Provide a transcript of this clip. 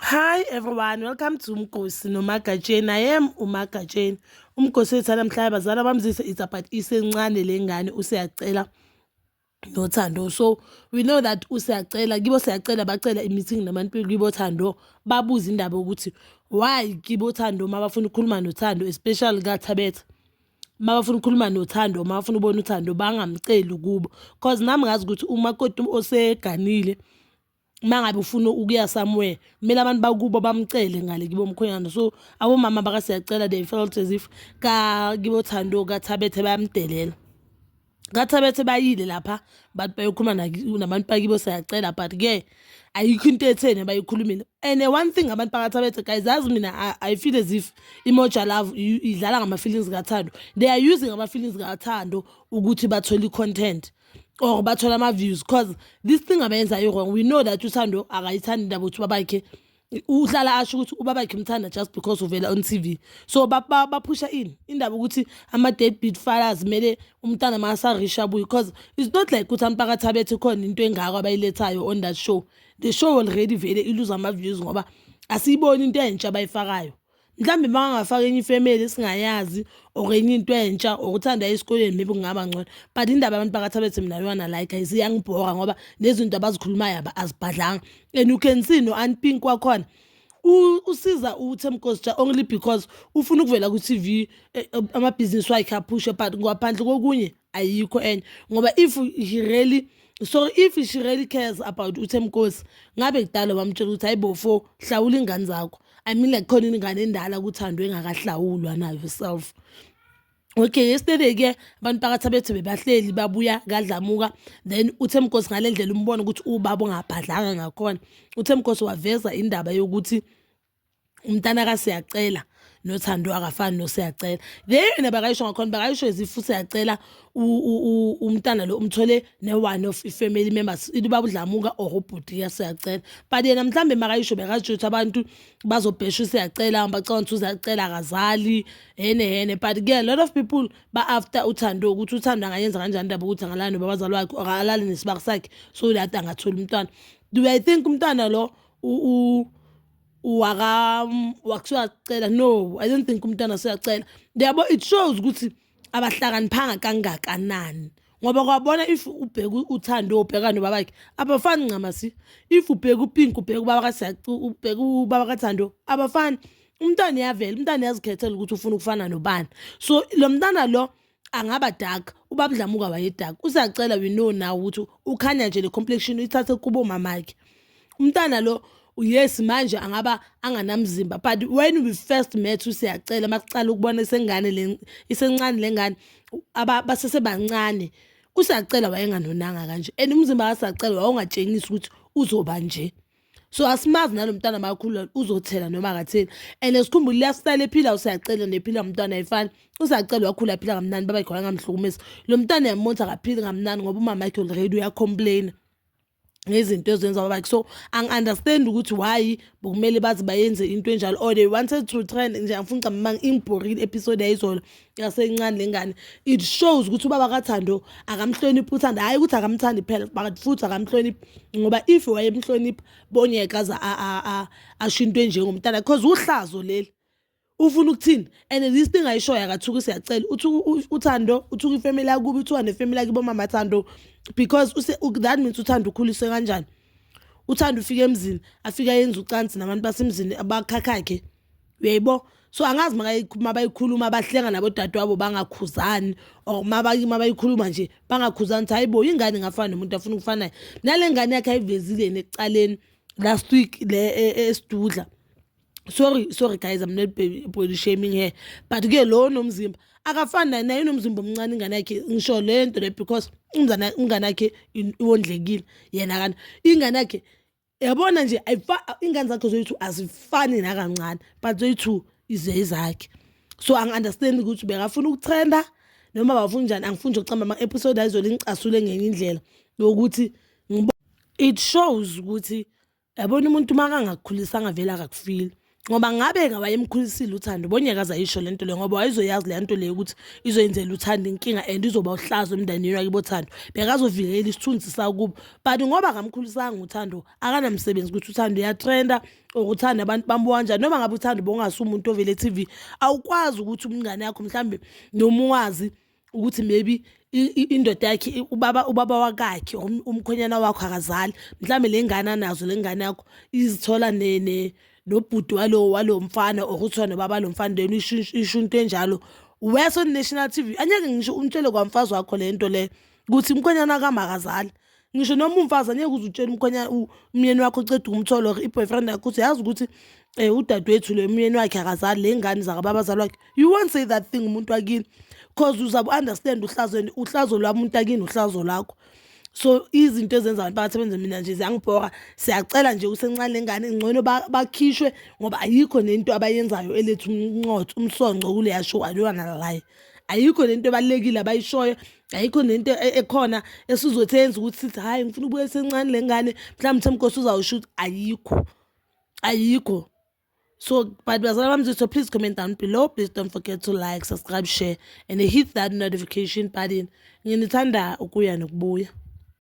Hi everyone, welcome to Mgosi noMagatsheni. I am uMagatsheni. Umgosi wethu namhlanje abazali bamzise it's about isencane lengane useyacela nothando so we know that usiyacela kibo siyacela bacela i-meeting nabantu kibo thando babuze indaba yokuthi why kibo thando uma bafuna ukukhuluma nothando especially kathabetha uma bafuna ukukhuluma nothando uma bafuna ubona uthando bangamceli kubo cause nami ngazi ukuthi umakoti oseganile uma ngabe ufuna ukuya somewhere kumele abantu bakubo bamcele ngale kibo mkhonyana so abomama baka siyacela they felt as if ka kibo thando kathabethe bayamdelela kathabethe bayile lapha bathi bayokhuluma nabantu bakibo siyacela but ke ayikho into etheni abayikhulumile and one thing abantu bakathabethe guys yazi mina I, i feel as if imoja love idlala ngama-feelings kathando they are using ama-feelings kathando ukuthi bathole i-content or bathole ama-views cause this thing abayenza i-wrong we know that uthando akayithandi indaba ukuthi ubabakhe uhlala asho ukuthi ubabakhe umthanda just because uvela on t v so baphusha ba, ba ini indaba ukuthi ama-dead beat fathers kumele umntana makasarisha abuye because it's not like ukuthi ampakathi abethe khona into engako abayilethayo on that show the show already vele iluze ama-views ngoba asiyiboni into entsha abayifakayo mhlawumbe makangafaka enye ifamily esingayazi or enye into entsha or uthanda esikoleni maybe kungaba ngcono but indaba abantu phakathi abethi mina yona la guys iyangibhora ngoba nezinto abazikhulumayo azibhadlanga and you can see no aunt pink kwakhona usiza uthemkosi ja only because ufuna ukuvela ku-tv eh, eh, amabhizinisi wakhe aphushe but ngaphandle kokunye ayikho enye ngoba if he really so if she really cares about uthemkosi ngabe kudala wamtshela ukuthi hayi bofo hlawula ingane zakho i mean like khona ingane endala kuthandwe engakahlawulwa nayo yourself okay yesterday-ke abantu phakathi abethu bebahleli babuya kadlamuka then uthe mgosi ngale ndlela umbona ukuthi ubaba ongabhadlanga ngakhona uthe mgosi waveza indaba yokuthi umntana kasiyacela nothando akafani nosiyacela le yena bakayisho ngakhona bakayisho ezifu siyacela umntana lo umthole ne-one of i-family members ilubaba udlamuka or ubhuti yasiyacela but yena mhlawumbe makayisho bekasho ukuthi abantu bazobhesha usiyacela bacabanga ukuthi uziyacela akazali hene hene but ke a lot of people ba-after uthando ukuthi uthando angayenza kanjani indaba ukuthi angalali nobabazali wakhe or alale nesibaka sakhe so that angatholi umntwana do i think umntwana lo waka wakuthiwa cela no i don't think umntana seyacela yabo it shows ukuthi abahlakaniphanga kangakanani ngoba kwabona if ubheka uthando ubheka nobaba wakhe abafani ncamasi if ubheka upink ubheka ubaba kasacu ubheka ubaba kathando abafani umntana uyavela umntana uyazikhethela ukuthi ufuna ukufana nobani so lo mntana lo angaba dark ubaba Dlamuka waye dark usacela we know now ukuthi ukhanya nje le complexion uyithathe kubo mamakhe umntana lo yes manje angaba anganamzimba but when we first met usiyacela makucala ukubona isengane le isencane lengane abasese bancane usiyacela wayenganonanga kanje and umzimba wasacela wawungatshengisi ukuthi uzoba nje so asimazi nalomntana makhulu uzothela noma akatheli and sikhumbule liyasitala ephila usiyacela nephila umntwana ayifani usacela wakhula aphila kamnani baba khona ngamhlukumezi lo mntana yamonza akaphili kamnani ngoba umama yakhe already uyacomplaina ngezinto ezenza babakhe so angi-understand ukuthi why bokumele baze bayenze into enjalo or they wanted to trend nje angifuni ngicamanga ingibhorile episode yayizolo yasencane lengane it shows ukuthi ubaba kathando akamhloniphi uthanda hhayi ukuthi akamthandi phela but futhi akamhloniphi ngoba if wayemhloniphi bonyeka aze asho into enjengomntana because uhlazo leli ufuna ukuthini and this thing ayishoyo akathuki siyacela uthando uthuka ifamily yakubi uthuka nefamily yakibo mama thando because that means uthando ukhuliswe kanjani uthando ufike emzini afike ayenza ucansi nabantu basemzini abakhakha khe uyayibo so angazi mabayikhuluma bahlenga nabo dadewabo bangakhuzani or mabayikhuluma nje bangakhuzani ukuthi hayi bo ingane ingafana nomuntu afuna ukufanayo nale ngane yakhe ayivezile neqaleni last week le e, e, esidudla sorry sorry guys i'm not body shaming here but ke lo nomzimba akafani naye naye unomzimba omncane ingane yakhe ngisho le nto le because ingane yakhe iwondlekile yena kana ingane yakhe yabona nje ingane zakhe zoyi-two azifani nakancane but zoyi-two ize izakhe so angi-understand ukuthi bekafuna ukuthenda noma bafuna njani angifuni nje ukucamba ama-episode ayizole ngicasule ngenye indlela yokuthi it shows ukuthi yabona umuntu uma kangakukhulisanga vele akakufili ngoba ngabe ngawayemkhulisile uthando bonyakaza yisho le nto le ngoba wayezoyazi le nto le ukuthi izoyenzela uthando inkinga and izoba uhlazo emndenini wakibo thando bekazovikela isithunzi sakubo but ngoba akamkhulisanga uthando akanamsebenzi ukuthi uthando uyatrenda or uthanda abantu bambuka kanjani noma ngabe uthanda ubongase umuntu ovele e-tv awukwazi ukuthi umngane yakho mhlawumbe noma uwazi ukuthi maybe indoda yakhe ubaba ubaba wakakhe umkhonyana wakho akazali mhlawumbe le ngane anazo le ngane yakho izithola nene nobhuti walo walo mfana or kuthiwa nobaba lo mfana then isho into enjalo wese on-national t v anyeke ngisho umtshele kwamfazi wakho le nto le ukuthi umkhonyana kamakazali ngisho noma umfazi angeke uze utshele umkhwenya umyeni wakho uceda umtholo or i-boyfriend yakho uthi yazi ukuthi um udadewethu le myeni wakhe akazali le ngane zakababa azali wakhe you won't say that thing umuntu wakini because uzabe u-understand uhlazo and uhlazo lwami umuntu akini uhlazo lakho so izinto ezenza abantu bathi benze mina nje ziyangibhora siyacela nje usencane lengane ngcono bakhishwe ngoba ayikho nento abayenzayo elethu umnqotho umsonco kuleya show alona laye ayikho lento ebalekile abayishoyo ayikho nento e-, ekhona esizothi yenza ukuthi sithi hhayi ngifuna ukubuya sencane le ngane mhlawumbe uthemkosi uzawusho ukuthi ayikho ayikho so but bazala bami so please comment down below please don't forget to like subscribe share and hit that notification button nginithanda ukuya nokubuya